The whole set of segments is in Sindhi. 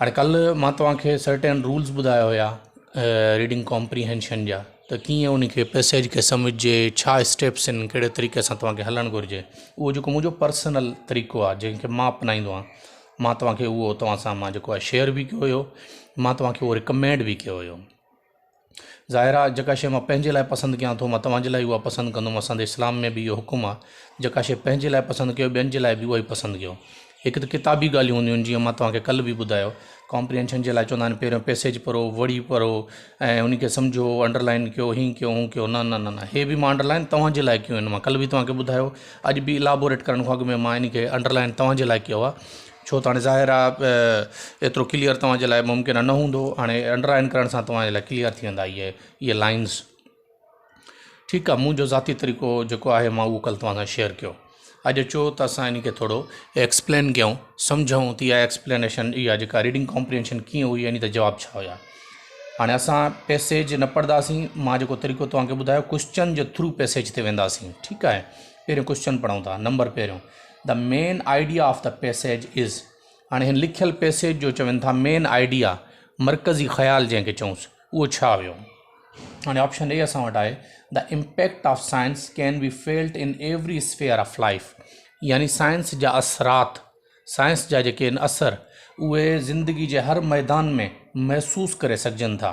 هاڻي ڪلهه مان توهان کي سرٽين رولز ٻڌايا هيا ريڊنگ ڪامپريهينشن جا ته ڪيئن ان کي پيسيج کي سمجهجي ڇا اسٽيپس آهن ڪهڙي طريقي سان توهان کي هلڻ گهرجي اهو جيڪو منهنجو پرسنل طريقو آهي جنهن کي مان اپنائيندو آهيان مان توهان کي اهو توهان سان مان جيڪو آهي شيئر به ڪيو هيو مان توهان کي اهو رڪمينڊ به ڪيو هيو ظاهر آ جيڪا شيء مان پنهنجي لاء پسند ڪيان ٿو مان توهان جي لاء اها پسند ڪندم اسان اسلام ۾ به اهو حڪم آ جيڪا شيء پنهنجي لاء پسند ڪيو ٻين جي لاء به اها ئي پسند ڪيو هڪ ته ڪتابي ڳالهيون هونديون آهن جيئن مان توهان کي ڪل به ٻڌايو ڪامپريهنشن جي لاء چوندا آهن پهريون پيسيج پڙهو وڙي پڙهو ۽ ان کي سمجهو انڊرلائن ڪيو هينئن ڪيو هونئن ڪيو نه نه نه هي به مان انڊرلائن توهان جي لاء ڪيون آهن مان ڪل به توهان کي ٻڌايو اڄ به الابوريٽ ڪرڻ کان اڳ ۾ مان ان کي انڊرلائن توهان جي لاء ڪيو آ ڇو ته هاڻي ظاهر آ ايترو ڪليئر توهان جي لاء ممڪن نه هوندو هاڻي انڊر آئن ڪرڻ سان توهان جي لاء ڪليئر ٿي ويندا اهي اهي لائنز ٺيڪ آ منهنجو ذاتي طريقو جيڪو آهي مان اهو ڪل توهان سان شيئر ڪيو اڄ اچو ته اسان ان کي ٿورو ايڪسپلين ڪيون سمجهون ته اها ايڪسپلينيشن اها جيڪا ريڊنگ ڪامپرينشن ڪيئن هئي يعني ته جواب ڇا هيا هاڻي اسان پيسيج نه پڙهنداسين مان جيڪو طريقو توهان کي ٻڌايو ڪوشچن جي ٿرو پيسيج تي وينداسين ٺيڪ آهي پهريون ڪوشچن پڙهون ٿا نمبر پهريون The main idea of the passage is هاڻي هن لکيل پيسيج جو چون ٿا مين آئيڊيا مرڪزي خيال جنهن کي چونس اهو ڇا هيو هاڻي آپشن اي اسان وٽ آهي the impact of science can be felt in every sphere of life يعني سائنس جا اثرات سائنس جا جيڪي اثر اهي زندگي جي هر ميدان ۾ محسوس ڪري سگهجن ٿا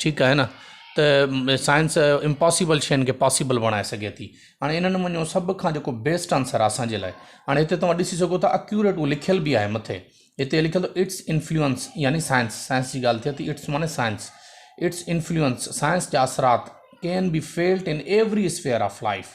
ٺيڪ آهي نه ته سائنس امپاسيبل شين کي پاسيبل بڻائي سگهي ٿي هاڻي ان نموني جو سڀ کان جيڪو بيسٽ آنسر آهي اسانجي لاء هاڻي هتي توهان ڏسي سگهو ٿا اڪيوريٽ هو لکيل بي آهي مٿي هتي لکيل اٿو اٽس انفلوئنس يعني سائنس سائنس جي ڳالهه ٿئي ٿي اٽس معنی سائنس اٽس انفلوئنس سائنس جا اثرات can be felt in every sphere of life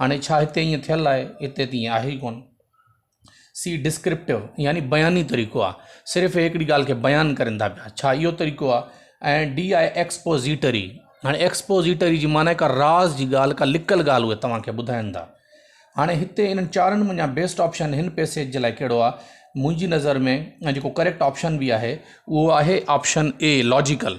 هاڻي ڇا هتي ائين ٿيل آهي؟ هتي ته ائين آهي ئي ڪونه. سي ڊسڪرپٽو يعني بياني طريقو آهي. صرف اهي هڪڙي ڳالهه کي بيان ڪرين ٿا پيا. ڇا اهو طريقو آهي؟ ۽ ڊي آهي ايڪسپوزيٽري. هاڻي ايڪسپوزيٽري جي معنيٰ ڪا راز جي ڳالهه ڪا لڪل ڳالهه اهي توهان کي ٻڌائين ٿا. هاڻي هتي انهن چارن منجهان بيسٽ آپشن هن پيسيج جي لاء ڪهڙو آهي؟ منهنجي نظر ۾ ۽ جيڪو ڪريڪٽ آپشن به آهي اهو آهي آپشن اي لاجيڪل.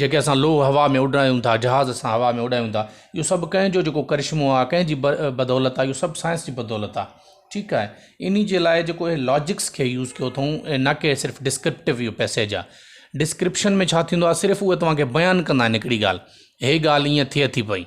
جيڪي اسان لوهه هوا ۾ اڏايون ٿا، جهاز اسان هوا ۾ اڏايون ٿا، اهو سڀ ڪنهن جو جيڪو ڪرشمو آهي، ڪنهن جي بدولت آهي، اهو سڀ سائنس جي بدولت آهي، ٺيڪ آهي، انهي جي لاء جيڪو هي لاجڪس کي يوز ڪيو اٿئون ۽ نه ڪي صرف ڊسڪرپٽو اهو پئسيج آهي، ڊسڪرپشن ۾ ڇا ٿيندو آهي صرف اهي توهان کي بيان ڪندا آهن هڪڙي ڳالهه، هي ڳالهه هيئن ٿئي ٿي پئي.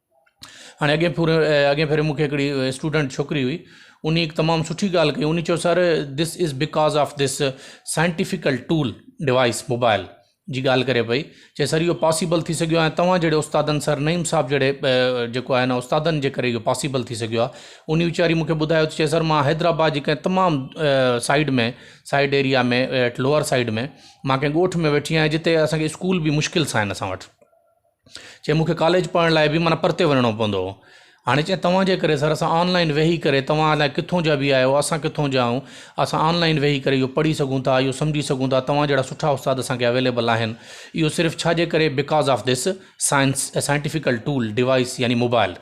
هاڻي اڳين پھر اڳين ڀيري مونکي هڪڙي اسٽوڊنٽ ڇوڪري هئي اني هڪ تمام سٺي ڳالهه ڪئي اني چيو sir this is because of this scientifical tool device mobile جي ڳالهه ڪري پئي چي سر اهو پاسيبل ٿي سگهيو آهي توهان جهڙي استادن سر نعيم صاحب جهڙي جيڪو آهي نا استادن جي ڪري اهو پاسيبل ٿي سگهيو آهي اني ويچاري مونکي ٻڌايو چي سر مان حيدرآباد جي ڪنهن تمام side ۾ side area ۾ lower side ۾ مان ڪنهن ڳوٺ ۾ ويٺي آهيان جتي اسانکي اسڪول به مشڪل سان آهن اسان وٽ چي مونکي ڪاليج پڙهڻ لاء به معنيٰ پرتي وڃڻو پوندو هو هاڻي چي توهان جي ڪري سر اسان آنلائن ويهي ڪري توهان الاء ڪٿون جا به آهيو اسان ڪٿون جا آهيون اسان آنلائن ويهي ڪري اهو پڙهي سگهون ٿا اهو سمجهي سگهون ٿا توهان جهڙا سٺا استاد اسان کي اويليبل آهن اهو صرف ڇا جي ڪري because of this science scientifical tool device يعني موبائل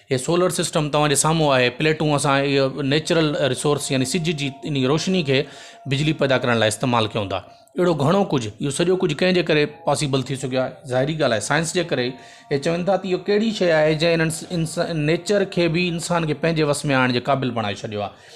هي سولر سسٽم توهان جي سامهون آهي پليٽون اسان اهو نيچرل رسورس يعني سج جي ان جي روشني کي بجلي پيدا ڪرڻ لاء استعمال ڪيون ٿا اهڙو گهڻو ڪجهه اهو سڄو ڪجهه ڪنهن جي ڪري پاسيبل ٿي سگهيو آهي ظاهري ڳالهه آهي سائنس جي ڪري هي چون ٿا ته اهو ڪهڙي شيء آهي جنهن انس انس نيچر کي بي انسان کي پنهنجي وس ۾ آڻڻ جي قابل بڻائي ڇڏيو آهي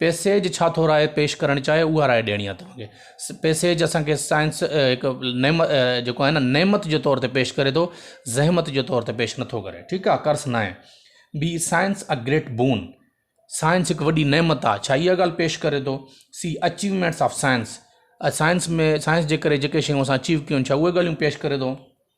پيسيج ڇا ٿو راء پيش ڪرڻ چاهي اها راء ڏيڻي آهي توهان کي پيسيج اسان کي سائنس هڪ نعمت جيڪو آهي نه نعمت جي طور تي پيش ڪري ٿو زحمت جي طور تي پيش نٿو ڪري ٺيڪ آهي ڪرس نه آهي be science a great boon science هڪ وڏي نعمت آهي ڇا اها ڳالهه پيش ڪري ٿو سی achievements of science science ۾ science جي ڪري جيڪي شيون اسان اچيو ڪيون ڇا اهي ڳالهيون پيش ڪري ٿو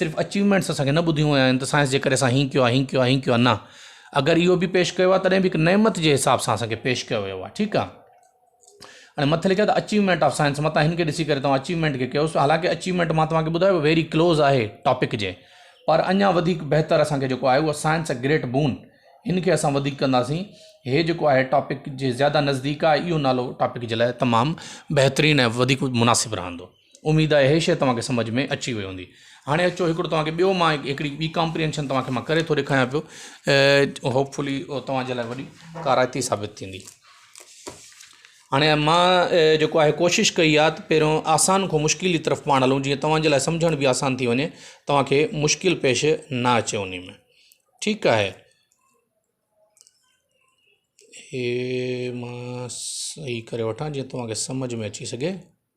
صرف اچيومينٽس اسان کي نه ٻڌيون ويون آهن ته سائنس جي ڪري اسان ھيئن ڪيو ھيئن ڪيو ھيئن ڪيو نه اگر اھو به پيش ڪيو آهي تڏهن به هڪ نعمت جي حساب سان اسان کي پيش ڪيو ويو آهي ٺيڪ آهي ۽ مٿي لکيل اچيومينٽ آف سائنس متان ھن کي ڏسي ڪري توهان اچيومينٽ کي ڪيوس حالانڪه اچيومينٽ مان توهان کي ٻڌايو ويري ڪلوز آهي ٽاپڪ جي پر اڃا وڌيڪ بهتر اسان کي جيڪو آهي اهو سائنس اي گريٽ بون ھن کي اسان وڌيڪ ڪنداسين ھي جيڪو آهي ٽاپڪ جي زياده نزديڪ آهي اهو نالو ٽاپڪ جي لاء تمام بهترين ۽ وڌيڪ مناسب رهندو اميد آهي هي شيء توهان کي سمجهه ۾ اچي وئي هوندي. هاڻي اچو هڪڙو توهان کي ٻيو مان هڪڙي ٻي ڪامپريهنشن توهان کي مان ڪري ٿو ڏيکايان پيو ۽ هوپ فلي اهو توهان جي لاء وڏي ڪارائتي ثابت ٿيندي. هاڻي مان جيڪو آهي ڪوشش ڪئي آهي ته پهريون آسان کان مشڪل جي طرف پاڻ هلون جيئن توهان جي لاء سمجهڻ به آسان ٿي وڃي توهان کي مشڪل پيش نه اچي ان ۾ ٺيڪ آهي هي مان صحيح ڪري وٺان جيئن توهان کي سمجهه ۾ اچي سگهي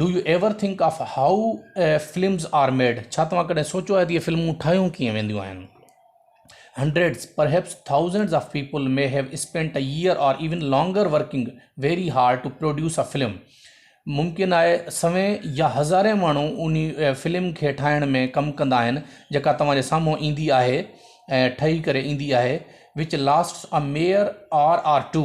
do you ever think of how films are made ڇا توهان ڪڏهن سوچيو آهي ته اهي فلمون ٺاهيون ڪيئن وينديون آهن hundreds perhaps thousands of people may have spent a year or even longer working very hard to produce a film ممڪن آهي سوين يا هزارين ماڻهو انهي فلم کي ٺاهڻ ۾ ڪم ڪندا آهن جيڪا توهان جي سامهون ايندي آهي ۽ ٺهي ڪري ايندي آهي which lasts a mere hour or two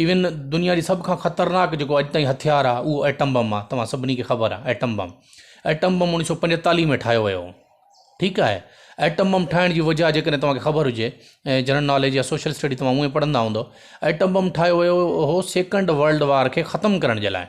even دنيا جي سڀ کان خطرناڪ جيڪو اڄ تائين هٿيار آ اهو ايٽم بم آ توهان سڀني کي خبر آ ايٽم بم ايٽم بم اڻيوي سو پنجيتاليهه ۾ ٺاهيو ويو هو ٺيڪ آهي ايٽم بم ٺاهڻ جي وجهه جي ڪڏهن توهانکي خبر هجي ۽ جنرل ناليج يا سوشل اسٽڊي توهان هونئن پڙهندا هوندو ايٽم بم ٺاهيو ويو هو سيڪنڊ ورلڊ وار کي ختم ڪرڻ جي لاء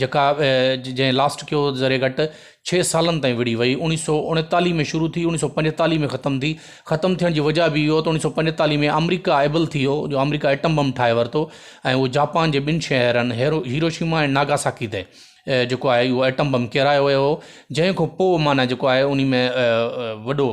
جيڪا جنهن لاسٽ ڪيو ذري گهٽ ڇهه سالن تائين وڙهي وئي اوڻيهه سؤ اڻيتاليهه ۾ شروع ٿي اوڻيهه سؤ پنجيتاليهه ۾ ختم ٿي ختم ٿيڻ جي وجهه به اهو ته اوڻيهه سؤ پنجيتاليهه ۾ آمريڪا ايبل ٿي ويو جو آمريڪا ايٽم بم ٺاهي ورتو ۽ اهو جاپان جي ٻن شهرن هيرو هيروشيما ۽ ناگاساڪي تي جيڪو آهي اهو ايٽم بم ڪيرايو ويو هو جنهن کان پوء معنيٰ جيڪو آهي ان ۾ وڏو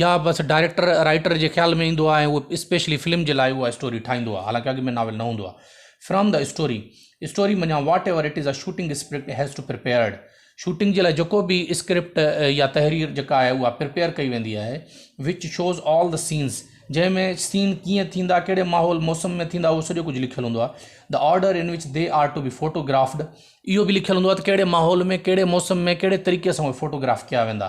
يا بس ڊائريڪٽر رائيٽر جي خيال ۾ ايندو آهي ۽ اهو اسپيشلي فلم جي لاء اها اسٽوري ٺاهيندو آهي حالانڪه اڳ ۾ ناول نه هوندو آهي فرام دي اسٽوري اسٽوري منجهان whatever it is a shooting script has to prepared shooting جي لاء جيڪو به اسڪرپٽ يا تحرير جيڪا آهي اها پرپيئر ڪئي ويندي آهي which shows all the scenes جنهن ۾ سين ڪيئن ٿيندا ڪهڙي ماحول موسم ۾ ٿيندا اهو سڄو ڪجهه لکيل هوندو آهي the order in which they are to be photographed اهو به لکيل هوندو آهي ته ڪهڙي ماحول ۾ ڪهڙي موسم ۾ ڪهڙي طريقي سان اهي فوٽوگراف ڪيا ويندا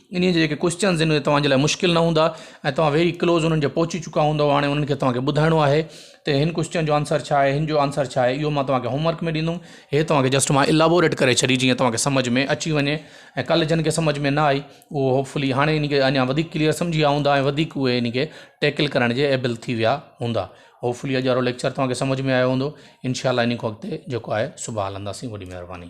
انهيء جا جيڪي ڪوئسچنز آهن اهي توهان جي لاء مشڪل نه هوندا ۽ توهان ويري ڪلوز انهن جي پهچي چڪا هوندؤ هاڻي انهن کي توهان کي ٻڌائڻو آهي ته هن ڪوئسچن جو آنسر ڇا آهي هن جو آنسر ڇا آهي اهو توهان کي هوم ورڪ ۾ ڏيندم هي توهان کي جسٽ مان الابوريٽ ڪري ڇڏي جيئن توهان کي سمجھ ۾ اچي وڃي ۽ ڪل جن کي سمجھ ۾ نه آئي اهو هوپ فلي هاڻي ان کي اڃا وڌيڪ ڪليئر سمجھي ويا هوندا ۽ وڌيڪ اهي ان کي ٽيڪل ڪرڻ جي ايبل ٿي ويا هوندا هوپ فلي اڄ وارو ليڪچر توهان کي سمجھ ۾ آيو هوندو انشاء الله ان کان اڳتي جيڪو آهي صبح هلنداسين وڏي مهرباني